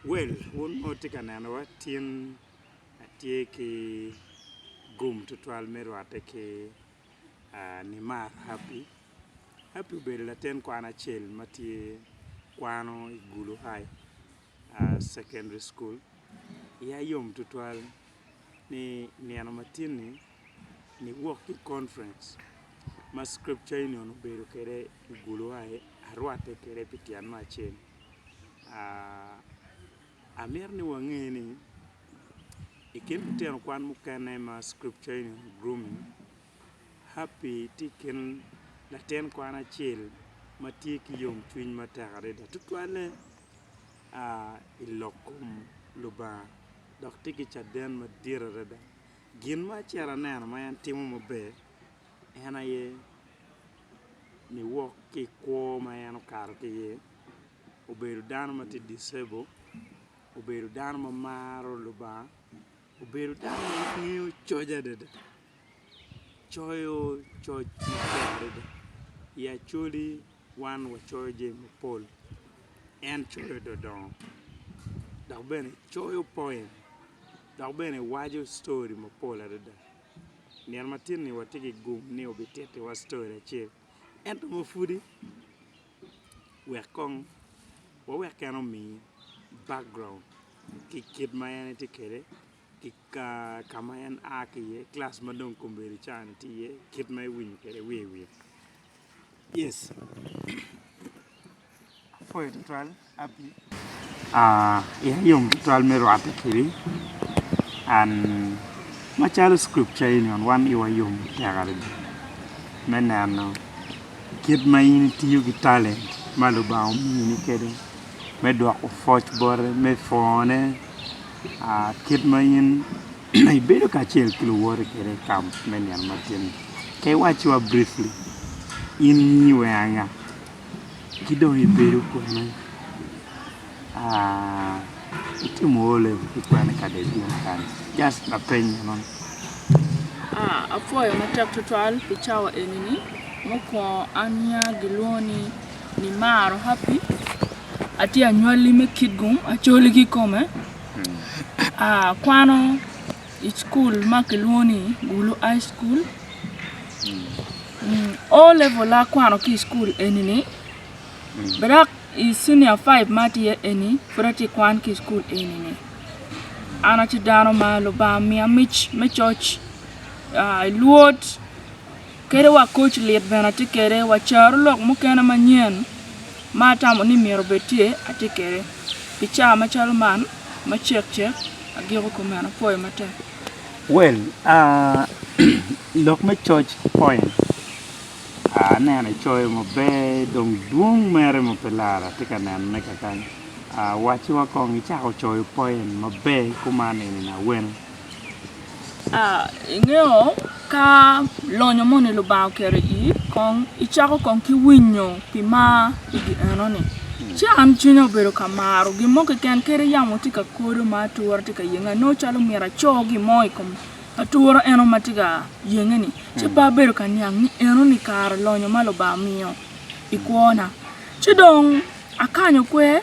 Well, wun ma wutye ka nenowa, tin atye ki gum tutwal me rwatte ki Nimar Happy. Happy obedo latin kwan acel ma tye kwano i Gulu High. Secondary School, iya yom tutwal ni nino matin-ni niwok ki i conference ma Scripture Union obedo kwede i Buluwayo, arwatte kwede pi tyen me acel. Amito ni wange ni i kin lutino kwan mukene ma Scripture Union grooming, Happy tye i kin latin kwan acel ma tye ki yomcwiny matek adada tutwalle. a i lok kom Lubanga dok tye ki caden madit adada. Gin ma acito aneno ma en timo maber en aye niwok ki i kwo ma en okato ki iye, obedo dano ma tye disabled, obedo dano ma maro Lubanga. Obedo dano ma ngeyo coc adada, coyo coc maber adada. I Acholi wan wacoyo jami mapol, en coyo dodongo dok bene coyo poem dok bene waco story mapol adada. I nino matin-ni watye ki gum ni obitittiwa story acel ento ma pwodi. wek kong wawek en omi background ki kit ma en tye kwede ki ka ma en a ki iye kilac ma dong kombeddi ca ni tye iye kit ma ewinyo kwede wiye wiye. Iya yom tutwal me rwatte kedi and macalo scripture eni on wan iwa yom tek adada me neno kit ma in itiyo ki talent ma Lubanga omini kede me dwoko pwoc bote me pwone kit ma in ibedo kacel ki luwote kede i kamp me nino matinni ka iwacciwa briefly in nyingi weng anga Ki dong ibedo kwene? Itimo O level ki kwene i kadet meno kany? Just lapeny meno ni. Apwoyo matek twatwal pi cawa eni-ni. Mukwongo aniya gilwongo ni Nimaro Happy, atye anywalli me Kitgum, Acholi kikome. Akwano I cukul ma kilwongo ni Gulu High School, O level akwano ki i cukul eni-ni, dok i Cenior Five ma tye eni, pud atye ka kwan ki i cukul eni-ni. An atye dano ma Lubanga omiya mic me coc, Lwod. Kadi wa koc lit bene atye kede, wa caro lok mukene manyen ma atamo ni myero obed tye atye kede. Pi caa macalo man ma cek cek agiko kumeno apoyo matek. Well aah lok me coc point aneno icoyo maber dong dwong mere ma pe lara atye ka neno ne kakany aah waci wa kong icako coyo point maber kuman eni nawene. Ingeyo ka lonyo moni Lubanga oketo i iyi kong icako kong ki winyo pi mar pi gin enoni ci an cwinya obedo ka maro gin mo keken kadi yamo tye ka kodo ma atura tye ka yenge anongo calo myero aco gin mo i kom atura eno ma tye ka yenge-ni ci pe abedo ka niang ni enoni kara lonyo ma Lubanga omiyo i kwona ci dong akanyo kwer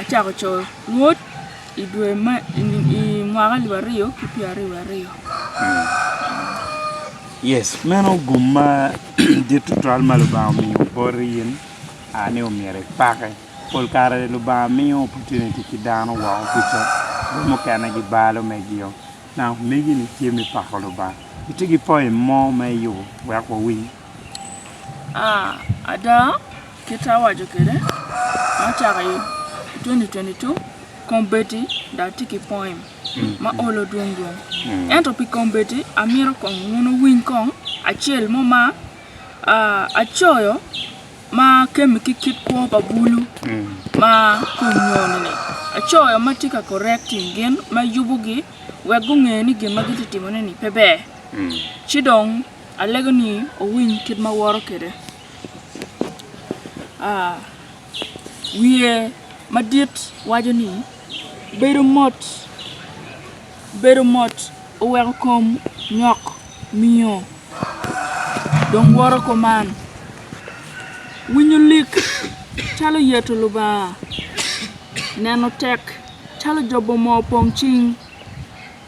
acako coyo ngut i dwe me i mwaka alip aryo ki pyera aryo wa aryo yes meno gum ma dit tutwal ma lubanga omiyo boti in a ni omyero ipake pol kare lubanga miyo opportunity ki dano woko kuca jo mukene gibalo megio nanga omegi ni tye me pako lubanga itye ki poim mo ma iyubo wek wawiny ada Kit ma awaco kwede ma ocako i 2022, kombeddi dong atye ki poem ma olo dwong dwong. Ento pi kombeddi amito kong wun wuwiny kong acel mo ma acoyo ma kemme ki kit kwo pa bulu ma kunyoni-ni. Acoyo ma tye ka correcting gin, ma yubogi wek gunge ni gin ma gitye ka timone-ni pe ber. Ci dong alego ni wuwiny kit ma aworo kwede. wiye madit waco ni, Bedo mot, bedo mot oweko kom nyok miyo dong woto kuman, winyo lik calo yeto Lubanga, neno tek calo jobo moo pong cing.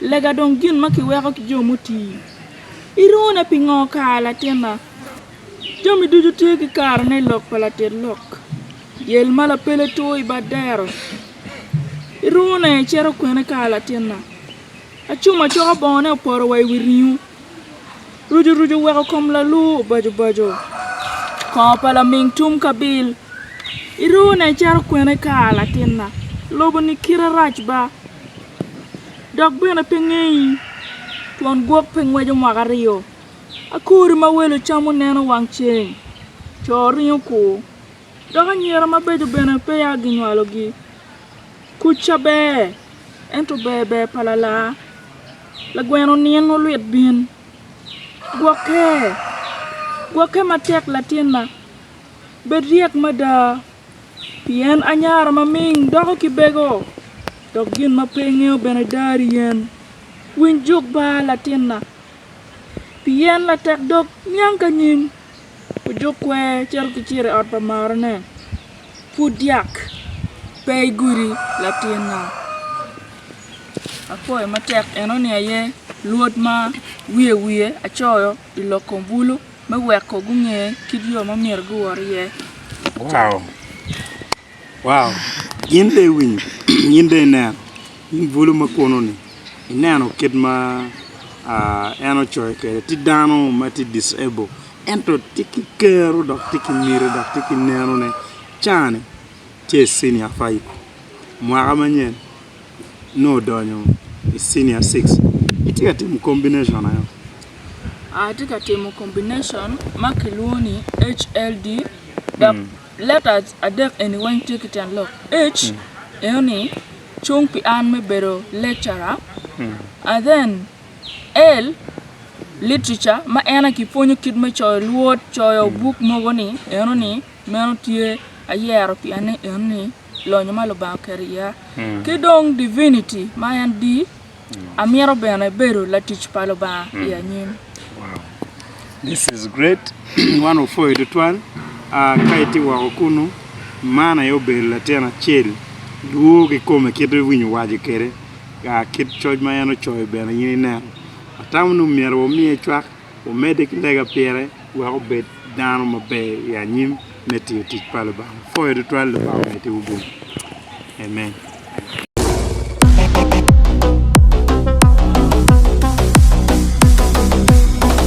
Lega dong gin ma kiweko ki jo muti. Irone pingo kara latinna? Jami ducu tye ki karene i lok pa latit lok. Yel ma lapele two i bad dero. Irone icito kwene kara latinna? Acum acoka bongone opoto wa i wi ringo. Rucu rucu oweko kom lalu obaco baco. Kongo pa laming tum kabil. Irone icito kwene kara latinna? Lobo-ni kite rac ba. Dok bene pe ngeyi, twon gwok pe ngweco mwaka aryo, akori ma welo camo neno wang ceng, co ringo kur, dok anyira mabeco bene peya ginywalogi. Kuc ca ber, ento ber ber pa lalar, lagweno nino olwit bin. Gwokke, gwokke matek latinna, bed ryek mada. Pien anyara maming doko ki bego, dok gin ma pe ingeyo bene dar i yen. Winy juk ba, latinna, pien latek dog niang ka nyim, ojuk kwer cito ki ciro i ot pa marane. Pud dyak pe i gudi, latinna. Apwoyo matek enoni aye luot ma wiye wiye acoyo i lok kom bulu. me weko gunge kit yo ma myero guwot iye. Wow! Wow! In dong iwinyo? In dong ineno? In bulu ma kunu-ni, ineno kit ma en ocoyo kwede? Tye dano ma tye disabled, ento tye ki kero, dok tye ki miti, dok tye ki nenone. Caa-ni tye i cinia faip, mwaka manyen. nongo odonyo i cinia six itye ka timo combination aye oo. Atye ka timo combination ma kilwongo ni HLD dok letters adek eni weng tye ki ten lok H enoni cung pi an me bedo lecturer and then L literature ma en aye kipwonyo kit me coyo lwod coyo buk mogo ni enoni meno tye ayero pi ane enoni lonyo ma Lubanga oketo iya, ki dong divinity ma en di, amito bene bedo latic pa Lubanga i anyim. Wow. This is great. Wan wapwoyi tutwal. Ah, ka itye woko kunu, man aye obedo latin acel. Dwogo i kome kit ma iwinyo waco kwede. Ah, kit coc ma en ocoyo bene in ineno. Atamo ni omyero wamiye cwak. wumedde ki lega pire wek wubed dano maber i anyim me tiyo tic pa Lubanga. Wupwoyo tutwal Lubanga omeddiwu bwommi. Amen.